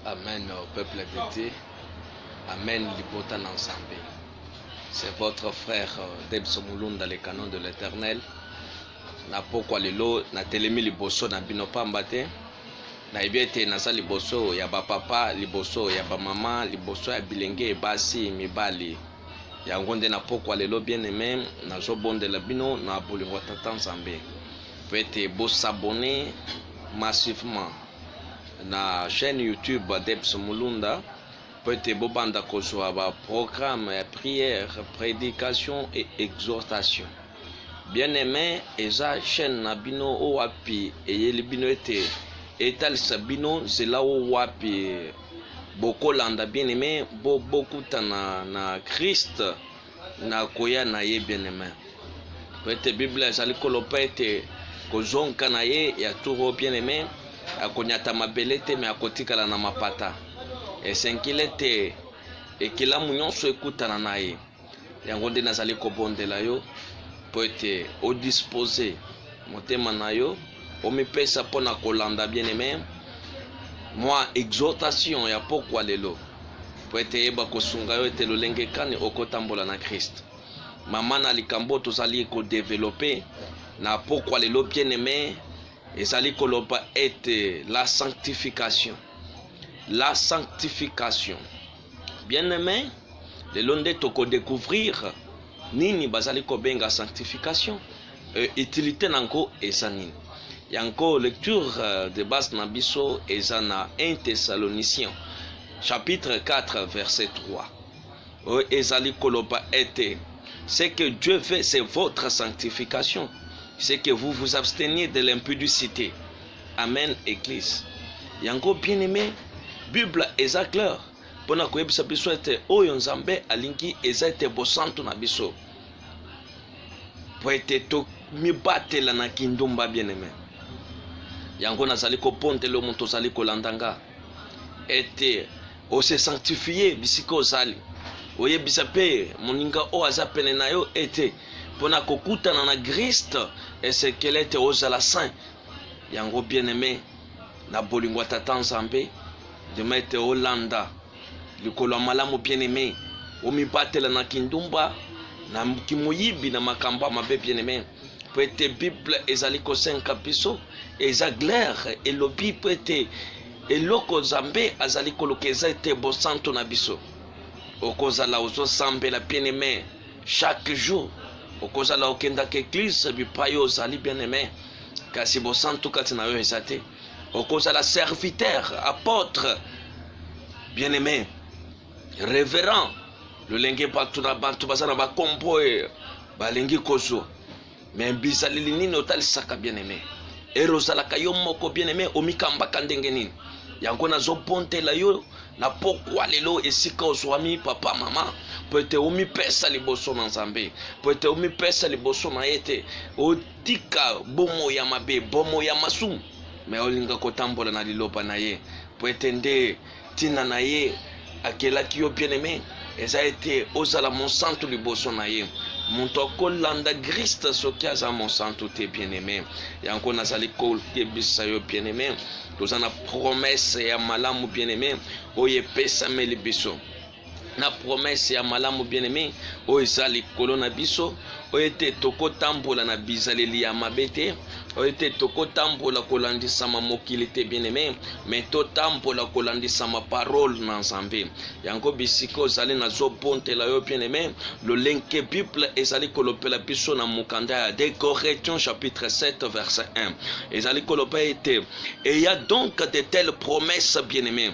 Amen, au peuple de Dieu. Amen, libota na Nzambe. C'est votre frère euh, Debso Mulunda, le canon de l'éternel. Na pokwa lelo, na telemi liboso na bino pamba te. Na yebi ete naza liboso ya ba papa, liboso ya ba mama, liboso ya bilenge basi mibali. Yango nde na pokwa lelo bien-aime, nazo bondela bino na bolingo ya Tata Nzambe mpo ete bo s'abonner massivement na chaîne YouTube Adeps Mulunda mpo ete bobanda kozwa ba programme ya prière, predication et exhortation. Bien-aime, eza chaîne na bino oyo wapi eyeli bino ete etalisa bino nzela oyo wapi bokolanda bien aime bo bokutana na christ na koya na ye bien aime po ete biblia ezali koloba ete kozonka na ye ya turo bien aime akonyata mabele te me akotikala na mapata esengili ete ekelamu nyonso ekutana na ye Yango nde nazali kobondela yo mpo ete odispose motema na yo, omipesa mpo na kolanda bien aime mwa exhortation ya pokwa lelo, mpo ete eyeba kosunga yo ete lolenge kani okotambola na Christ. Mama na likambo tozali kodevelope na pokwa lelo bien aime ezali koloba ete la sanctification la sanctification Bien aime, lelo nde toko decouvrir nini bazali kobenga sanctification et utilite na yango eza nini. Yango lecture de base na biso eza na 1 Thessaloniciens chapitre 4 verset 3 oyo ezali koloba ete ce que Dieu veut c'est votre sanctification, c'est que vous vous absteniez de l'impudicite. Amen eglise yango bien aime bible eza clair pona koyebisa biso ete oyo nzambe alingi eza ete bosantu na biso po ete tomibatela na kindumba bien aime yango nazali kopondelo moto ozali kolanda nga ete ose sanctifie bisika ozali oyebisa mpe moninga oyo aza pene na yo ete mpo na kokutana na griste esekele ete ozala saint Yango bien aime na bolingo ya tata nzambe demain ete olanda likolo ya malamu bien aime omibatela na kindumba na kimoyibi na makambo ya mabe bien aime mpo ete bible ezali kosenga biso eza glere elobi mpo ete eloko nzambe azali koluka eza ete bosanto na biso okozala ozosambela bien aime Chaque jour okozala okendaka eglise bipai ozali bien aime, kasi bosantu kati na yo eza te. Okozala serviteur, apotre, bien aime, reverend, lolenge bato na bato baza na bakombo oyo balingi kozwa me bizaleli nini otalisaka bien aime ere ozalaka yo moko bien aime omikambaka ndenge nini yango nazobontela yo na pokwa lelo esika ozwami papa mama mpo ete omipesa liboso na nzambe mpo ete omipesa liboso na ye te otika bomo ya mabe bomo ya masumu me olinga kotambola na liloba na ye mpo ete nde Ntina na ye akelaki yo bien aime eza ete ozala mosantu liboso na ye. Moto akolanda Griste soki aza mosantu te bien aime. Yango nazali koyebisa yo bien aime, toza na promesse ya malamu bien aime oyo epesameli biso. na promese ya malamu bien aime oyo eza likolo na biso oyo ete tokotambola na bizaleli ya mabe te oyo ete tokotambola kolandisama mokili te bien aime me totambola kolandisama parole na nzambe yango bisika ozali nazobontela yo bien aime lolenge bible ezali kolopela biso na mokanda ya de correction chapitre 7 verset 1 ezali koloba ete eya donc de telle promesse bien aime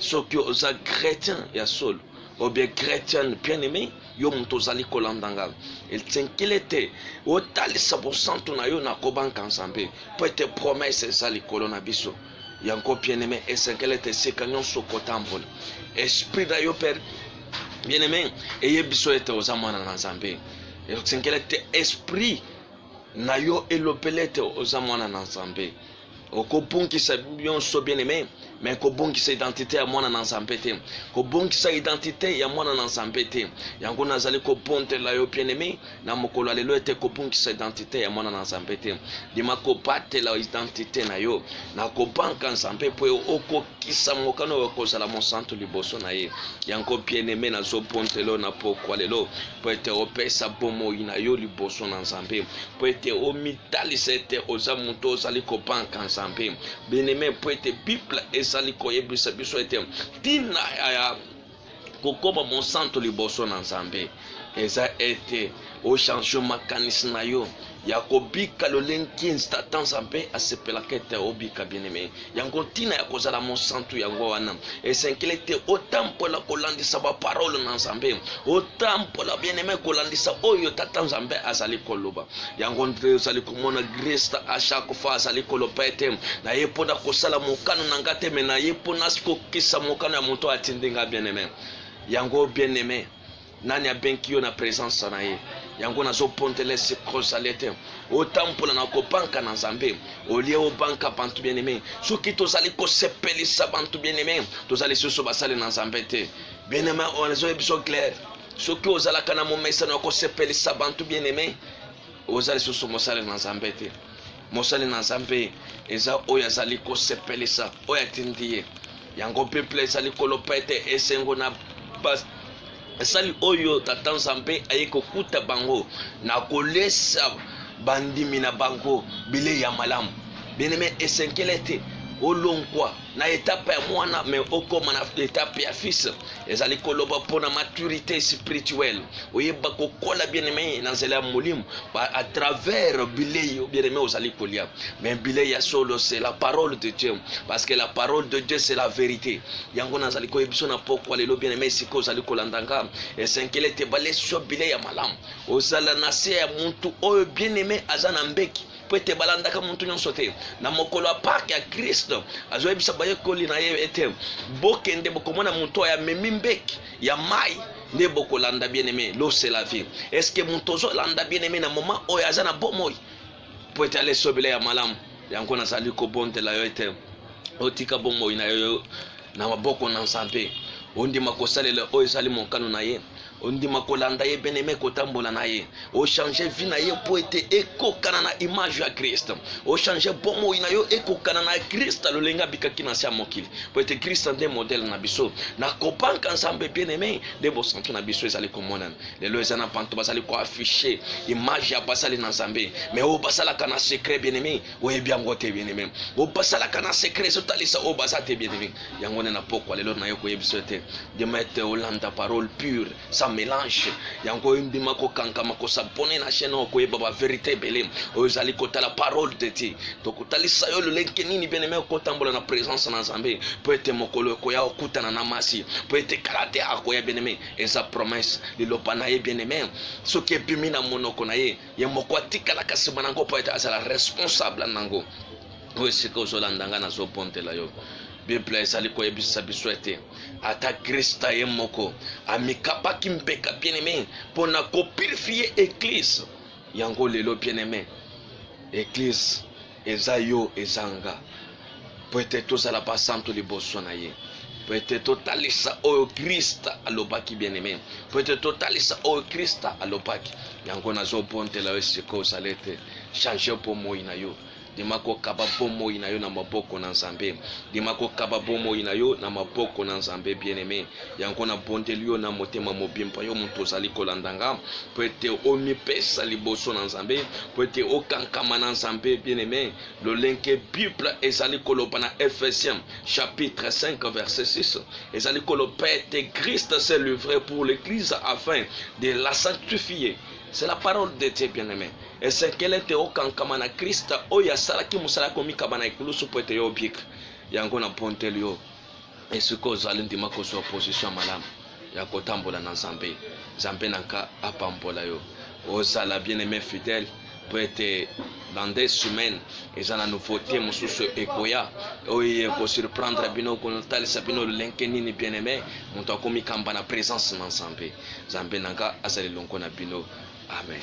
soki oza chrétien ya solo obie chrétienne bien aimé yo moto ozali kolanda ngai esenkeli ete otalisa bosantu na yo na kobanka nzambe mpo ete promese eza likolo na biso yango bien aimé esenkeli ete esika nyonso kotambola esprit na yo mpe bien aimé eyebi biso ete oza mwana na nzambe esenkeli ete esprit na yo elobeli ete oza mwana na nzambe okobungisa nyonso bien aime me kobungisa identite ya mwana na nzambe te kobungisa identite ya mwana na nzambe te yango nazali kobondela yo bien aime na mokolo ya lelo ete kobungisa identite ya mwana na nzambe te ndima kobatela identite na yo na kobanka nzambe mpo okokisa mokano oyo kozala mosantu liboso na ye yango bien aime nazobondela yo na pokwa lelo mpo ete opesa bomoi na yo liboso na nzambe mpo ete omi Talisa ete oza moto ozali kopanka Nzambe bien-aime, mpo ete Bible ezali koyebisa biso ete ntina ya kokoma mosanto liboso na Nzambe eza ete ochange makanisi na yo ya kobika lolenge Satan Nzambe asepelaka ete obika bien-aime. Yango ntina ya kozala mosantu yango wana esengeli ete otambola kolandisa baparole na Nzambe, otambola bieneme kolandisa oyo Tata Nzambe azali koloba. Yango nde ozali komona Gresta a chaque fois azali koloba ete naye mpo na kosala mokano na ngai te, me naye mpo na kokisa mokano ya moto atindi ngai bieneme. Yango bieneme nani abenki yo na presence na ye yango nazopontele sikrosale te otambola na kobanka na nzambe olie obanka bantu bien aime soki tozali kosepelisa bantu bien aime tozali susu basali na nzambe te bien aime ozoye biso claire soki ozalaka na momesano ya kosepelisa bantu bien aime oza lisusu mosali na nzambe te Mosali na Nzambe eza oyo azali kosepelisa oyo atindi ye. Yango Biblia ezali koloba ete esengo na basali oyo Tata Nzambe aye kokuta bango na kolesa bandimi na bango bilei ya malamu. Bien-aime, esenkele ete olongwa na etape ya mwana me okoma na etape ya fils ezali koloba mpo na maturité spirituelle oyeba kokola bien aime na nzela ya molimo à travers bilei bien aime ozali kolia me bilei ya solo c'est la parole de dieu parce que la parole de dieu c'est la vérité yango nazali koyebiso na pokwa lelo bien aime sikoyo ozali kolanda nga esenkele te balesi yo bilei ya malamu ozala na se ya muntu oyo bien aime aza na mbeki mpo ete balandaka moto nyonso te na mokolo ya pake ya kristo azoyebisa bayekoli na ye ete bokende bokomona moto oyo amemi mbeki ya mai nde bokolanda bien aime losela vie estce moto ozolanda bien aime na moma oyo aza na bomoi mpo ete alesobela ya malamu yango nazali kobondela yo ete otika bomoi na yo na maboko na nzambe ondima kosalela oyo ezali mokano na ye Ondima kolanda ye bien aime kotambola na ye ochange vie na ye mpo ete ekokana na image ya krist ochange bomoi na yo ekokana na krist lolenge abikaki na se ya mokili mpo ete krist nde modele na biso na kobanka nzambe bien aime nde bosantu na biso ezali komonana lelo eza na bantu bazali koaffiche image ya basali na nzambe me oyo basalaka na secret bien aime oyebi yango te bien aime oyo basalaka na secret ezotalisa oyo baza te bien aime yango nde na pokwa lelo naye koyebisa ete demete olanda parole pure sa mélange yango oyindima kokankama kosabone na chaîne oyo koyeba baverité ebele oyo ezali kotala parole de dieu tokotalisa yo lolenge nini beneme okotambola na présence na nzambe mpo ete mokolo ekoya okutana na masi mpo ete kala te akoya beneme eza promesse liloba na ye beneme soki ebimi na monoko na ye ye moko atikalaka nsima na yango mpo ete azala responsable na yango mpo esika ozolanda ngai nazobondela yo biblia ezali koyebisa biso ete ata krista ye moko amikapaki mpeka bien aime mpo na kopurifie eklise yango lelo bien aime eklise eza yo eza nga mpo ete tozala basantu liboso na ye mpo ete totalisa oyo krista alobaki bien aime mpo ete totalisa oyo krista alobaki yango nazobondela yo esika ozali ete change mpo moi na yo Ndima kokaba bomoi na yo na maboko na Nzambe. Ndima kokaba bomoi na yo na maboko na Nzambe, bien-aime. Yango nabondeli yo na motema mobimba, yo moto ozali kolanda nga, mpo ete omipesa liboso na Nzambe, mpo ete okankama na Nzambe, bien-aime, lolenge Bible ezali koloba na Ephesiens chapitre 5 verset 6 ezali koloba ete Christ s'est livré pour l'Eglise afin de la sanctifier. C'est la parole de Dieu, bien-aime. Esengeli ete okankama na Krista oyo asalaki mosala ya komikaba na ekulusu mpo ete yo obika. Yango na mponteli yo esika ozali ndima kozwa position ya malamu ya kotambola na Nzambe. Nzambe na nka apambola yo. Ozala bien aime fidèle mpo ete dans des semaines eza na nouveauté mosusu ekoya oyo ekosurprendre bino kotalisa bino lolenge nini bien aime moto akomikamba na presence na Nzambe. Nzambe na nga azala elongo na bino. Amen.